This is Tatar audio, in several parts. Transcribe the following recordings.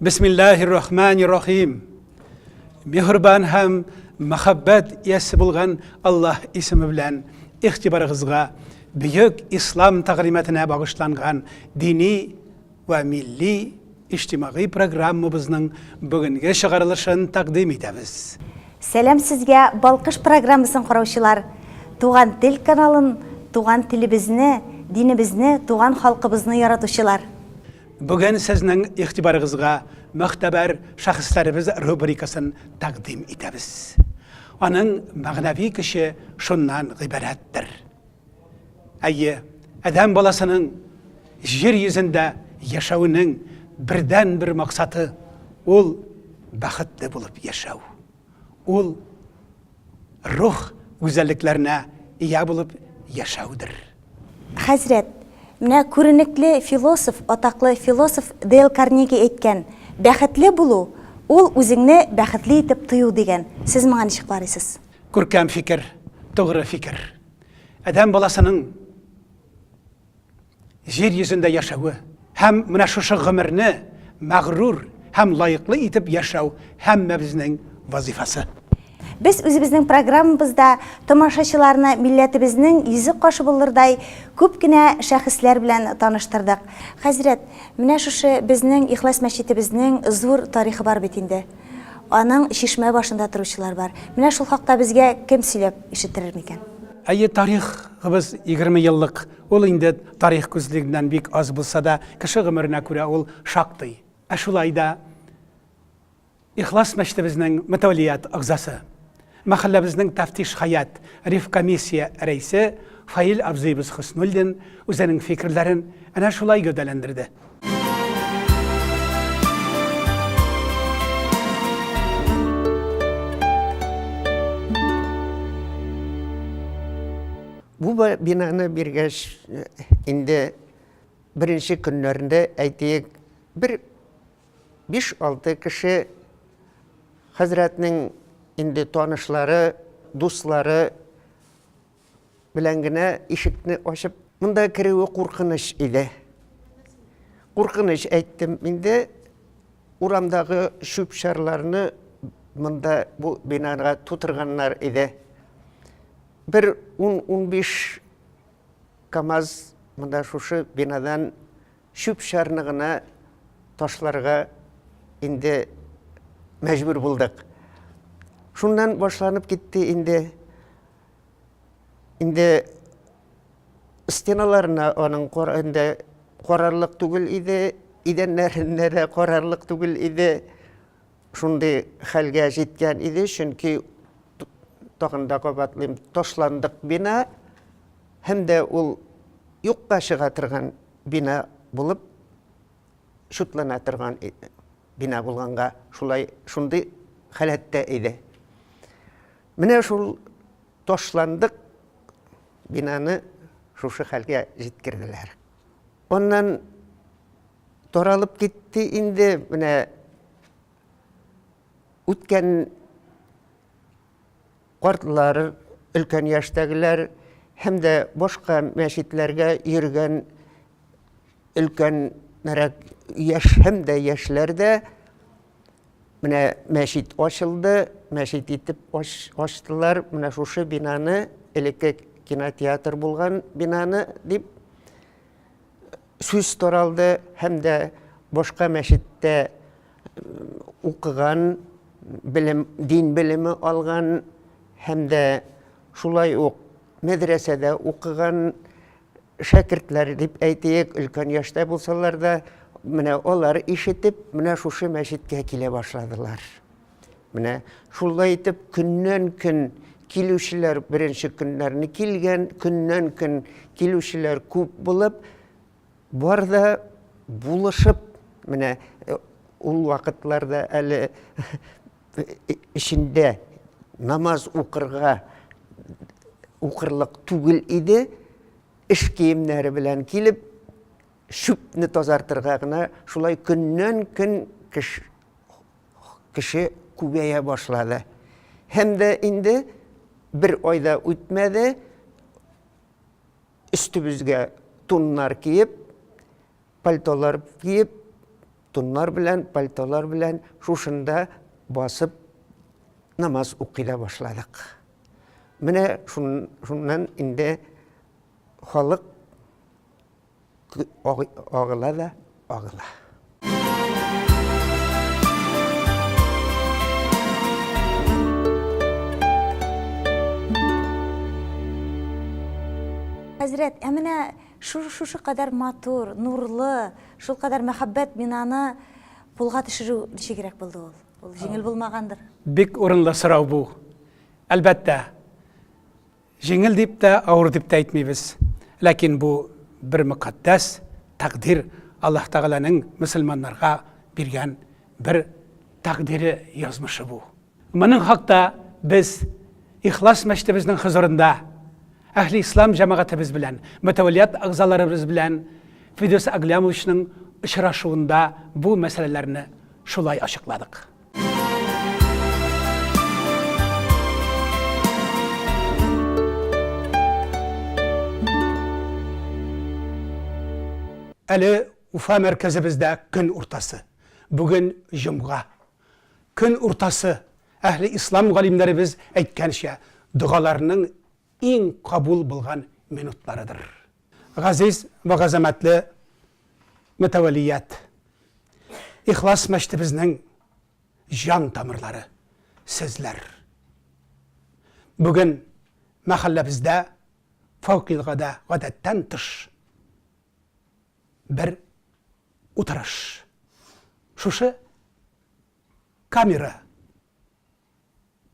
Бисмиллахир рахманир рахим. Мехрибан һәм мәхәббәт иясе булган Аллаһ исеме белән игътибарыгызга бөек ислам тәгълиматына багышланган дини ва милли иҗтимагый программабызның бүгенге чыгарылышын тәкъдим итәбез. Сәлам сезгә, Балкыш программасын караучылар! Туган тел каналын, туган телебезне, динебезне, туган халкыбызны яратучылар! Бүген сезнең игътибарыгызга мөгътәбәр шәхесләребез рубрикасын тәкъдим итәбез. Аның мәгънәви көче шуннан гыйбарәттер. Әйе, адәм баласының җир йөзендә яшәвенең бердәнбер максаты ул бәхетле булып яшәү. Ул рух гүзәллекләренә ия булып яшәүдер. Хәзрәт, менә күренекле философ, атаклы философ Дейл Карнеги әйткән, Бәхетле булу, ул үзеңне бәхетле итеп тою, дигән. Сез моңа ничек карыйсыз? Күркәм фикер, тугры фикер. Адәм баласының Җир йөзендә яшәве һәм менә шушы гомерне мәгърур һәм лаеклы итеп яшәү һәммәбезнең вазифасы. Без үзебезнең программабызда тамашачыларны милләтебезнең йөзе каш булырдай күп кенә шәхесләр белән таныштырдык. Хәзрәт, менә шушы безнең Ихлас мәчетебезнең зур тарихы бар бит инде. Аның чишмә башында торучылар бар. Менә шул хакта безгә кем сөйләп ишеттерер микән? Әйе, тарихыбыз егерме еллык Ул инде тарих күзлегеннән бик аз булса да, кеше гомеренә күрә ул шактый. Ә шулай да Ихлас мәчетебезнең мөтәвәлият әгъзасы, мәхәлләбезнең тәфтиш һәйәт ревкомиссия рәисе Фаил абзыебыз Хөснуллин үзенең фикерләрен әнә шулай гәүдәләндерде. Бу бинаны биргәч, инде беренче көннәрендә, әйтик, бер биш-алты кеше хәзрәтнең инде танышлары, дуслары белән генә ишекне ачып, монда керүе куркыныч иде. Куркыныч әйттем инде, урамдагы чүп-чарларны монда бу бинага тутырганнар иде. Бер ун-унбиш камаз монда шушы бинадан чүп-чарны гына ташларга инде мәҗбүр булдык. Шуннан башланып китте инде. Инде стеналарына аның инде карарлык түгел иде, идәннәренә дә карарлык түгел иде. шундый хәлгә җиткән иде, чөнки, тагын да кабатлыйм, ташландык бина һәм дә ул юкка чыга торган бина булып чутлана торган бина булганга, шулай, шундый халәттә иде. Менә шул ташландык бинаны шушы хәлгә җиткерделәр. Аннан Таралып китте инде, менә үткән картлар, өлкән яшьтәгеләр һәм дә башка мәчетләргә йөргән өлкәнрәк яшь һәм дә яшьләр дә менә мәчет ачылды, мәчет итеп ачтылар, менә шушы бинаны, элекке кинотеатр булган бинаны дип, сүз таралды һәм дә башка мәчеттә укыган, белем, дин белеме алган һәм дә шулай ук мәдрәсәдә укыган шәкертләр дип әйтик, өлкән яшьтә булсалар да, менә алар ишетеп, менә шушы мәчеткә килә башладылар. Менә шулай итеп көннән-көн килүчеләр беренче көннәрне килгән, көннән-көн килүчеләр күп булып, бар да булышып, менә э, ул вакытларда әле эчендә э, намаз укырга укырлык түгел иде, эш киемнәре белән килеп, шүпне тазартырга гына шулай көннән-көн кеш Кеше күбәя башлады. Һәм дә инде бер ай да үтмәде, өстебезгә туннар киеп, пальтолар киеп, туннар белән, пальтолар белән шушында басып намаз укый да башладык. Менә шуннан инде халык Агыла да агыла. Хәзрәт, ә менә шушы кадәр матур, нурлы, шул кадәр мәхәббәт бинаны кулга төшерү ничегрәк булды ул? Ул җиңел булмагандыр. Бик урынлы сорау бу. Әлбәттә, Җиңел дип тә, авыр дип тә әйтмибез. Ләкин бу бер мөкатдәс тәкъдир, Аллаһ Тәгаләнең мөселманнарга биргән бер тәкъдире, язмышы бу. Моның хакта без Ихлас мәчетебезнең хозурында Әһле Ислам җәмәгатебез белән, мөтәвәллият әгъзаларыбыз белән Фидүс Әгъләмовичның очрашуында бу мәсьәләләрне шулай ачыкладык. Әле Уфа мәркәзебездә көн уртасы. Бүген җомга. Көн уртасы, әһле ислам галимнәребез әйткәнчә, догаларның иң кабул булган минутларыдыр. Газиз вә газәмәтле Мөтәвәллият, ихлас мәчетебезнең җан тамырлары сезләр. Бүген мәхәлләбездә фәүкилгадә гадәттән тыш бер утырыш. Шушы камера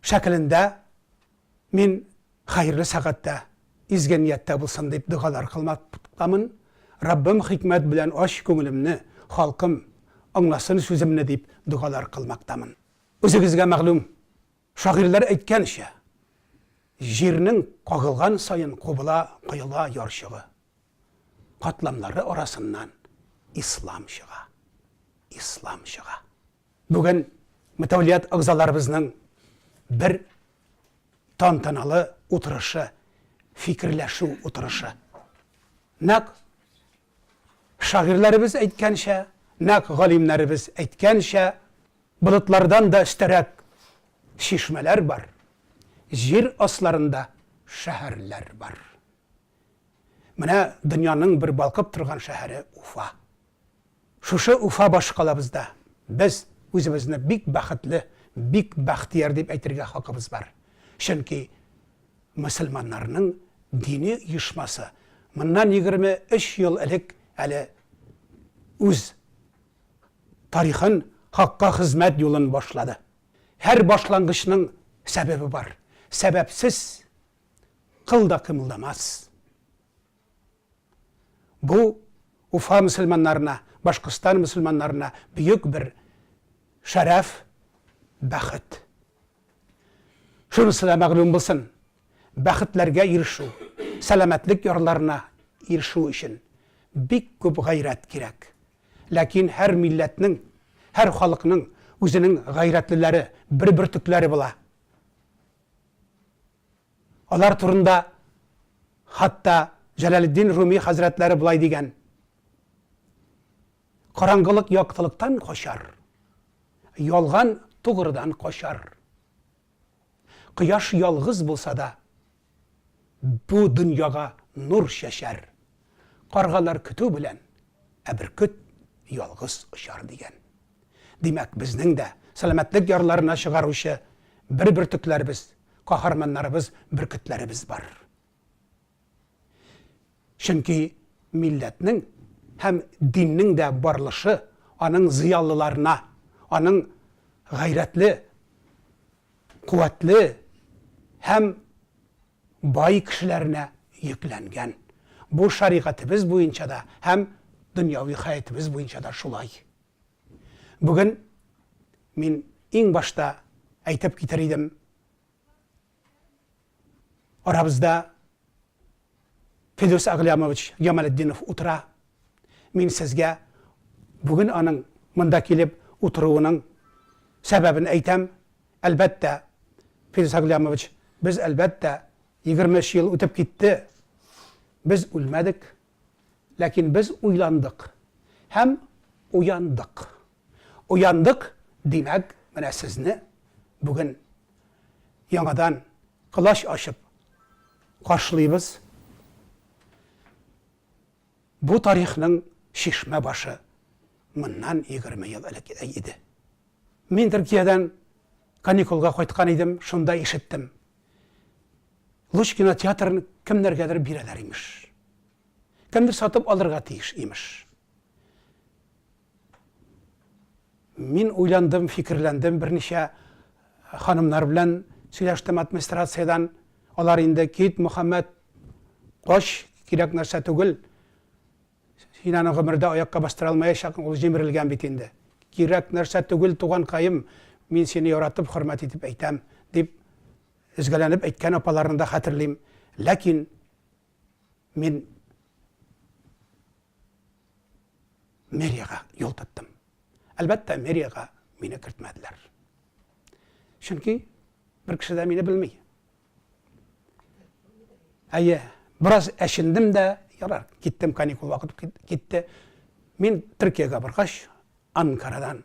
шәкелендә мин хәерле сәгатьтә, изге нияттә булсын дип догалар кылмакламын, Раббым хикмәт белән ач күңелемне, халкым аңласын сүземне дип догалар кылмактамын. Үзегезгә мәгълүм, шагыйрьләр әйткәнчә, җирнең кагылган саен кубыла, коела ярчыгы. Катламнары арасыннан ислам чыга. Ислам чыга. Бүген Мөтәвлият әгъзаларыбызның бер тантаналы утырышы, фикерләшү утырышы. Нәкъ шагыйрьләребез әйткәнчә, нәкъ галимнәребез әйткәнчә, болытлардан да өстәрәк чишмәләр бар, җир асларында шәһәрләр бар. Менә дөньяның бер балкып торган шәһәре Уфа. Шушы Уфа башкалабызда без үзебезне бик бәхетле, бик бәхтияр дип әйтергә хакыбыз бар. Чөнки мөселманнарның дини оешмасы моннан егерме өч ел элек әле үз тарихын, хакка хезмәт юлын башлады. Һәр башлангычның сәбәбе бар. Сәбәпсез кыл да кыймылдамас. Бу Уфа мөселманнарына, Башкортстан мөселманнарына бөек бер шәрәф, бәхет. Шунысы да мәгълүм булсын, бәхетләргә ирешү, сәламәтлек ярларына ирешү өчен бик күп гайрәт кирәк. Ләкин һәр милләтнең, һәр халыкның үзенең гайрәтлеләре, бер бөртекләре була. Алар турында хатта Җәләлетдин Руми хәзрәтләре болай дигән, Караңгылык яктылыктан качар, ялган тугрыдан качар. Кояш ялгыз булса да, бу дөньяга нур чәчәр. Каргалар көтү белән, ә бөркет ялгыз очар, дигән. Димәк, безнең дә сәламәтлек ярларына чыгаручы бер бөртекләребез, каһарманнарыбыз, бөркетләребез бар. Чөнки милләтнең һәм диннең дә барлышы аның зыялыларына, аның гайрәтле, куәтле һәм бай кешеләренә йөкләнгән. Бу шәригатебез буенча да һәм дөньяви хәятебез буенча да шулай. Бүген мин иң башта әйтеп китәр идем, арабызда Фидүс Әгълямович Җамалетдинов утыра, Мин сезгә бүген аның монда килеп утыруының сәбәбен әйтәм. Әлбәттә, Фирдүс Агълямович, без, әлбәттә, егерме өч ел үтеп китте, без үлмәдек, ләкин без уйландык һәм уяндык. Уяндык, димәк, менә сезне бүген яңадан колач ачып каршылыйбыз. Бу тарихның чишмә башы моннан егерме ел элек иде. Мин Төркиядән каникулга кайткан идем, шунда ишеттем. Луч кинотеатрын кемнәргәдер бирәләр, имеш. Кемдер сатып алырга тиеш, имеш. Мин уйландым, фикерләндем, берничә ханымнар белән сөйләштем администрациядән. Алар инде, Кит, Мөхәммәт, кач, кирәк нәрсә түгел. Син аны гомердә аякка бастыра алмаячакның, ул җимерелгән бит инде. Кирәк нәрсә түгел, туганкаем, мин сине яратып, хөрмәт итеп әйтәм, дип өзгәләнеп әйткән апаларны да хәтерлим. Ләкин мин. мэриягә юл тоттым. Әлбәттә, мэриягә мине кертмәделәр. Чөнки бер кеше дә мине белми. Әйе, бераз әчендем дә, ярар, киттем, каникул вакыты китте. Мин Төркиягә баргач, Анкарадан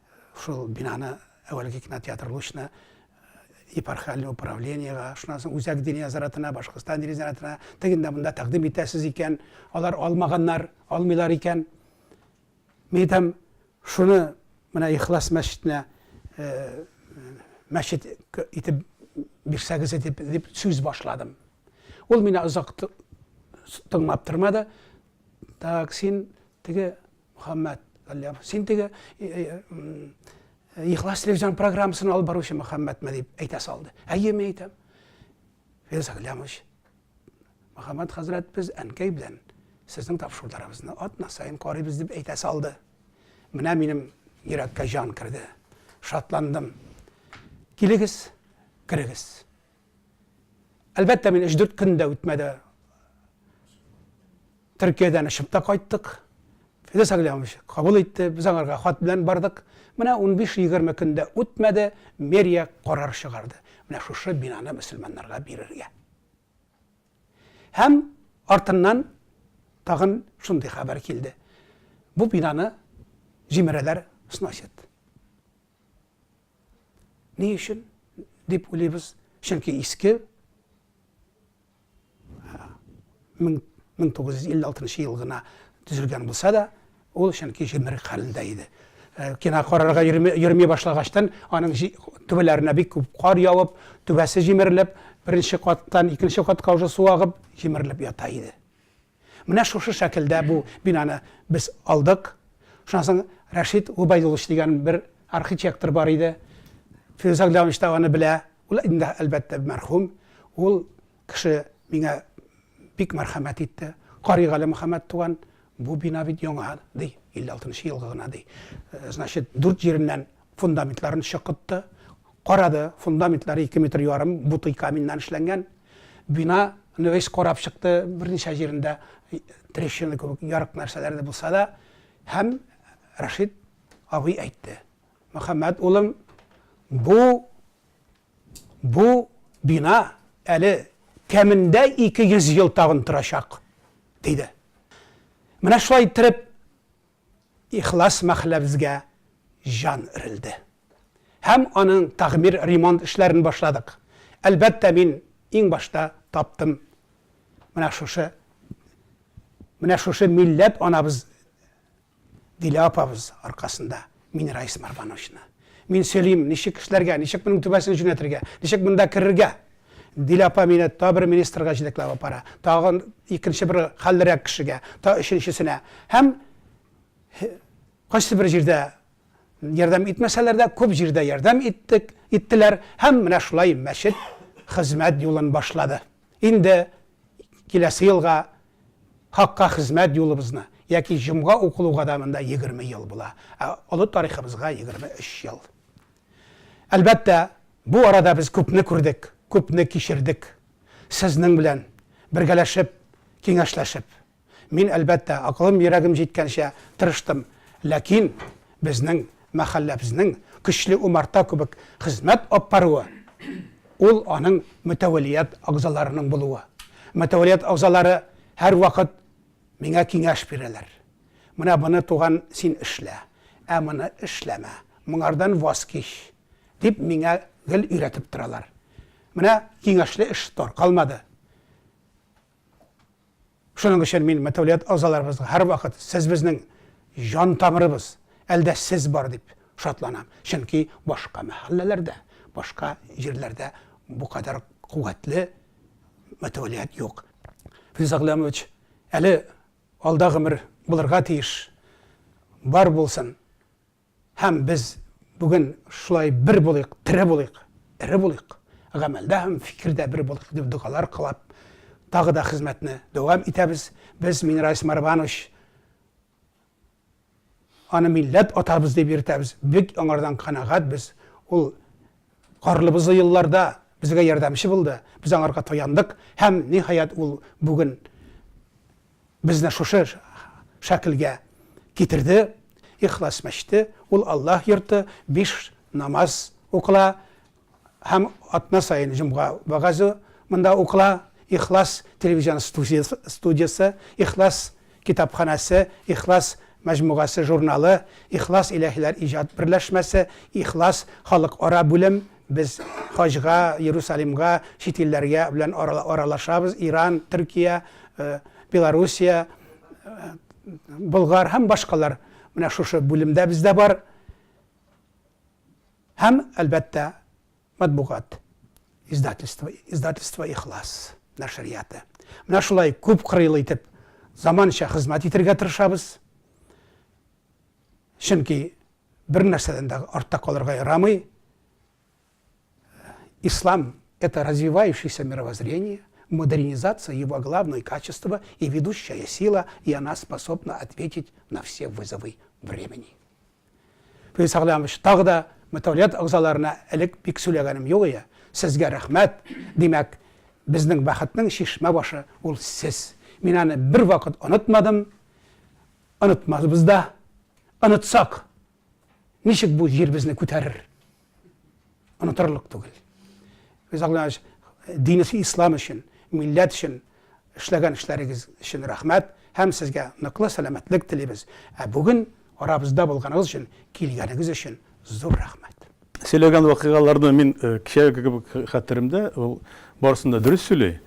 Шул бинаны, әүвәлге кинотеатр Лучна, епархиаль управлениега, шуннан соң үзәк дин нәзаратына, Башкортстан дин нәзаратына, тегендә монда тәкъдим итәсез икән, алар алмаганнар, алмыйлар икән. Мин әйтәм, шуны менә Ихлас мәчетенә э, мәчет итеп бирсәгез дип, дип сүз башладым. Ул мине озак тыңлап тормады. Так, син теге Мөхәммәт Галлямов. Син теге Ихлас телевизион программасын алып баручы Мөхәммәтме дип әйтә салды. Әйе, мин әйтәм. Фирс Галлямович, Мөхәммәт хәзрәт без әнкәй белән сезнең тапшыруларыгызны атна саен карыйбыз дип әйтә салды. Менә минем йөрәккә җан керде. Шатландым. Килегез, керегез. Әлбәттә, мин 3-4 көн дә үтмәде. Төркиядән очып та кайттык. Фидос Аглямович кабул итте, без аңарга хат белән бардык. Менә 15-20 көн дә үтмәде, мэрия карар чыгарды. Менә шушы бинаны мөселманнарга бирергә. Һәм артыннан тагын шундый хәбәр килде. Бу бинаны җимерәләр, сносят. Ни өчен дип уйлыйбыз? Чөнки иске 1956 ел гына төзелгән булса да, ул чөнки җимерек хәлендә иде. Э, кина карарга йөрми башлагачтан, аның түбәләренә бик күп кар явып, түбәсе җимерелеп, беренче каттан икенче катка уже су агып, җимерелеп ята иде. Менә шушы шәкелдә бу бинаны без алдык. Шуннан соң Рәшит Губайдуллович дигән бер архитектор бар иде. Фирүз Әгъләмович та аны белә. Ул инде, әлбәттә, мәрхүм. Ул кеше миңа бик мәрхәмәт итте. Каригали Мөхәммәт туган, бу бина бит яңа, ди, 56 нчы елгы гына, ди. Значит, дүрт җиреннән Фундаментларын чокытты, карады, фундаментлары ике метр ярым бутый каменьнан эшләнгән. Бина ны весь карап чыкты, берничә җирендә трещина кебек ярык нәрсәләр дә булса да, һәм Рәшит абый әйтте, Мөхәммәт улым, бу бу бина әле кәмендә 200 ел тагын торачак, диде. Менә шулай иттереп, Ихлас мәхәлләбезгә җан өрелде. Һәм аның тәгъмир-ремонт эшләрен башладык. Әлбәттә, мин иң башта таптым менә шушы, менә шушы милләт анабыз Дилә апабыз аркасында Минрайс Марбановичны. Мин сөйлим, ничек эшләргә, ничек моның түбәсен җүнәтергә, ничек монда керергә. Дилә апа мине та бер министрга җитәкләп апара, тагын икенче бер хәллерәк кешегә, та өченчесенә. Һәм кайсы бер җирдә ярдәм итмәсәләр дә, күп җирдә ярдәм иттек, иттеләр һәм менә шулай мәчет хезмәт юлын башлады. Инде киләсе елга хакка хезмәт юлыбызны яки җомга укылуга да монда 20 ел була. Ә олы тарихыбызга 23 ел. Әлбәттә, бу арада без күпне күрдек, күпне кичердек. Сезнең белән бергәләшеп, киңәшләшеп. Мин, әлбәттә, акылым-йөрәгем җиткәнчә тырыштым, ләкин безнең мәхәлләбезнең көчле умарта кебек хезмәт алп баруы, ул аның мөтәвәлият әгъзаларының булуы. Мөтәвәлият әгъзалары һәрвакыт. Миңа киңәш бирәләр. Менә моны, туган, син эшлә, ә моны эшләмә, моңардан ваз кич, дип миңа гел өйрәтеп торалар. Менә киңәшле эш тар калмады. Шуның өчен мин мәтәүлият агзаларыбызга һәрвакыт сез безнең җан тамырыбыз, әлдә сез бар дип шатланам. Чөнки башка мәхәлләләрдә, башка җирләрдә бу кадәр куәтле мәтәүлият юк. Филза Гыйләмович, әле алда гомер булырга тиеш, бар булсын. Һәм без бүген шулай бер булыйк, тере булыйк, эре булыйк, гамәлдә һәм фикердә бер булыйк дип догалар кылап, тагы да хезмәтне дәвам итәбез. Без Минрайс Марванович Аны милләт атабыз дип йөртәбез. Бик аңардан канәгать без. Ул карлы-бозлы елларда безгә ярдәмче булды. Без аңарга таяндык һәм, ниһаять, ул бүген безне шушы шәкелгә китерде. Ихлас мәчете, ул Аллаһ йорты, биш намаз укыла, Һәм атна саен җомга вәгазе монда укыла, Ихлас телевизион студиясе, Ихлас китапханәсе, Ихлас мәҗмугасы журналы, Ихлас илаһиләр иҗат берләшмәсе, Ихлас халыкара бүлем, без хаҗга, Иерусалимга, чит илләргә белән аралашабыз, Иран, Төркия, Белоруссия, Болгар һәм башкалар менә шушы бүлемдә бездә бар. Һәм, әлбәттә, матбугат, издательство, издательство Ихлас нәшрияты. Менә шулай күп кырыйлы итеп заманча хезмәт итергә тырышабыз. Чөнки бер нәрсәдән дә артта калырга ярамый. Ислам это развивающееся мировоззрение, модернизация его главное качество и ведущая сила, и она способна ответить на все вызовы времени. Фәиз Сәгълямович, тагы да мөтәвәлият әгъзаларына элек бик сөйләгәнем юк ие, сезгә рәхмәт, димәк, безнең бәхетнең чишмә башы ул сез. Мин аны бервакыт онытмадым, онытмасбыз да. Онытсак, ничек бу җир безне күтәрер? Онытырлык түгел. Без Аллаһ динесе ислам өчен, милләт өчен эшләгән эшләрегез өчен рәхмәт һәм сезгә ныклы сәламәтлек телибез. Ә бүген арабызда булганыгыз өчен, килгәнегез өчен зур рәхмәт. Сөйләгән вакыйгаларны мин э, кичәге кебек хәтеремдә, ул барысын да дөрес сөйли.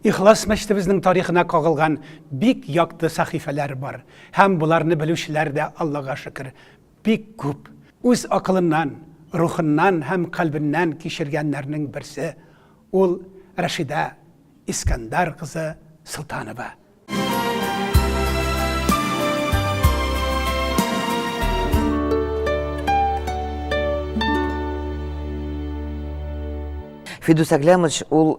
Ихлас мәчетебезнең тарихына кагылган бик якты сәхифәләр бар һәм боларны белүчеләр дә, Аллага шөкер, бик күп. Үз акылыннан, рухыннан һәм кальбеннән кичергәннәрнең берсе, ул Рәшидә Искәндәр кызы Солтанова. Фидүс Әгләмович, ул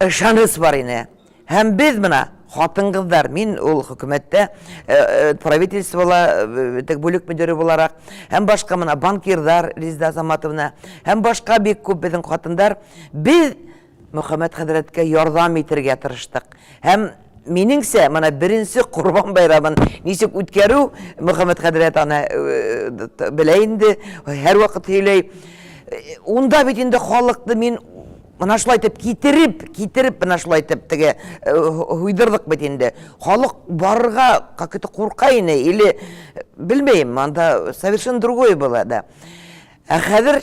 Ышаныч бар ине. Һәм без мына, хатын-кызлар, мин ул хөкүмәттә правительствола тег бүлек мөдире буларак, һәм башка мына банкирлар Резеда Азаматовна, һәм башка бик күп безнең хатындар, без Мөхәммәт хәзрәткә ярдәм итергә тырыштык. Һәм Минеңсә, моны беренче Корбан байрамын ничек үткәрү, Мөхәммәд хәзрәт аны э, белә инде, һәрвакыт сөйләй. Унда бит инде халыкны мин мына шулай итеп китереп, китереп мына шулай итеп теге э, һуйдырдык бит инде. Халык барырга какой-то курка ине или белмәйм, анда совершенно другое было, да. Ә хәзер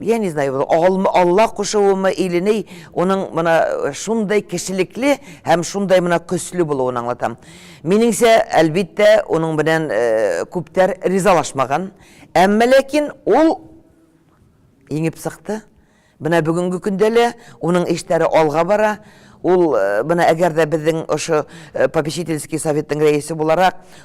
Я не знаю, бу алма, Алла кушуымы или ни, уның мына шундый кешелекле һәм шундый мына көчле булуын аңлатам. Минеңчә, әлбиттә, уның белән э, күптәр ризалашмаган. Әмма ләкин ул еңеп сыкты. Менә бүгенге көндә лә уның эшләре алга бара. Ул э, менә әгәр дә безнең ошо э, попечительский советның рәисе буларак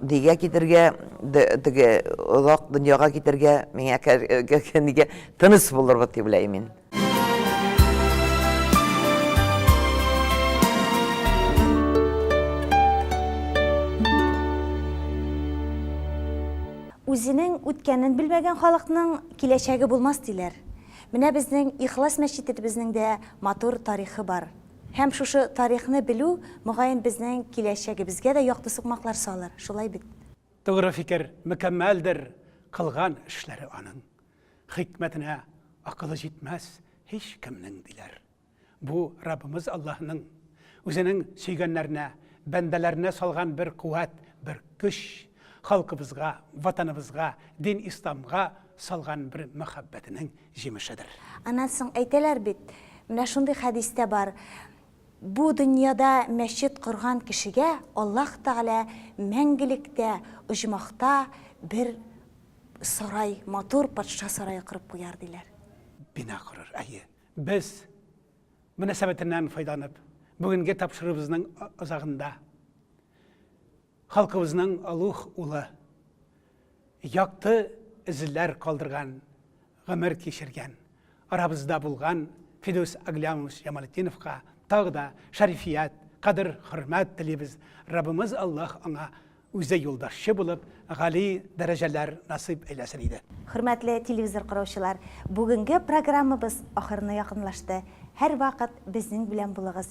Нигә китергә, теге озак дөньяга китергә, миңа нигә тыныс булырбыз дип уйлыйм мин. Үзенең үткәнен белмәгән халыкның киләчәге булмас, диләр. Менә безнең Ихлас мәчетебезнең дә матур тарихы бар. Һәм шушы тарихны белү, мөгаен, безнең киләчәгебезгә дә якты сукмаклар салыр, шулай бит? Тугры фикер, мөкәммәлдер кылган эшләре аның. Хикмәтенә акылы җитмәс һичкемнең, диләр. Бу, Раббыбыз Аллаһының Үзенең сөйгәннәренә, бәндәләренә салган бер куәт, бер көч, халкыбызга, Ватаныбызга, дин Исламга Салган бер мәхәббәтенең җимешедер. Аннан соң әйтәләр бит, менә шундый хәдис тә бар, Бу дөньяда мәчет корган кешегә Аллаһ Тәгалә мәңгелектә оҗмахта бер сарай, матур патша сарае корып куяр, диләр. Бина корыр, әйе. Без, мөнәсәбәтеннән файдаланып, бүгенге тапшыруыбызның азагында, Халкыбызның олуг улы, якты эзләр калдырган гомер кичергән, арабызда булган Фидүс Аглямович Ямалетдиновка тагы да шәрифият, кадер-хөрмәт телибез, Раббымыз Аллаһ аңа үзе юлбашчы булып, гали дәрәҗәләр насыйп әйләсен иде. Хөрмәтле телевизор караучылар, бүгенге программабыз ахырына якынлашты. Һәрвакыт безнең белән булыгыз,